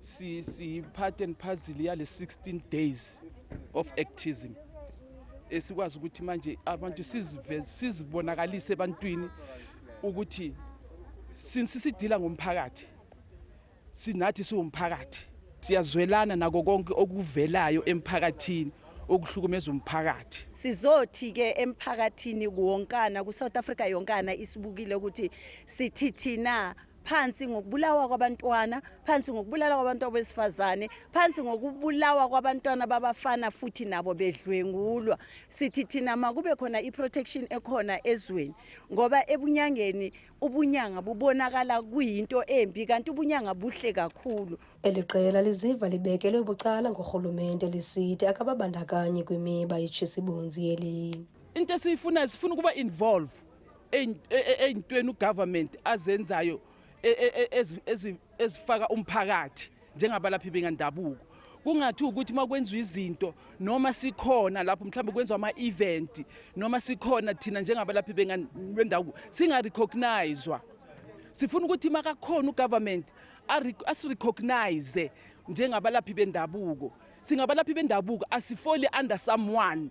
si si part and parcel yale 16 days of activism esikwazi ukuthi manje abantu sizive sizibonakalise ebantwini ukuthi since sidila ngomphakathi sinathi siwumphakathi siyazwelana nako konke okuvelayo emphakathini okuhlukumeza umphakathi sizothi ke emphakathini kuwonkana ku South Africa yonkana isibukile ukuthi sithithina phansi ngokubulawa kwabantwana phansi ngokubulala kwabantu abesifazane phansi ngokubulawa kwabantwana babafana futhi nabo bedlwengulwa sithi thina makube khona i-protection ekhona ezweni ngoba ebunyangeni ubunyanga bubonakala kuyinto embi kanti ubunyanga buhle kakhulu eli qela liziva libekelwe bucala ngurhulumente lisithi akababandakanyi kwimiba yetshisibunzi yeli into esiyifuna sifuna ukuba involve ey'ntweni ugovernment azenzayo e, e, e, ezifaka umphakathi njengabalaphi bengandabuko kungathi ukuthi uma kwenziwa izinto noma sikhona lapho mhlawumbe kwenziwa ama-event noma sikhona thina njengabalaphi bendabuko singarecognizwa sifuna ukuthi makakhona ugovernment asirecognize njengabalaphi bendabuko singabalaphi bendabuko asifoli under someone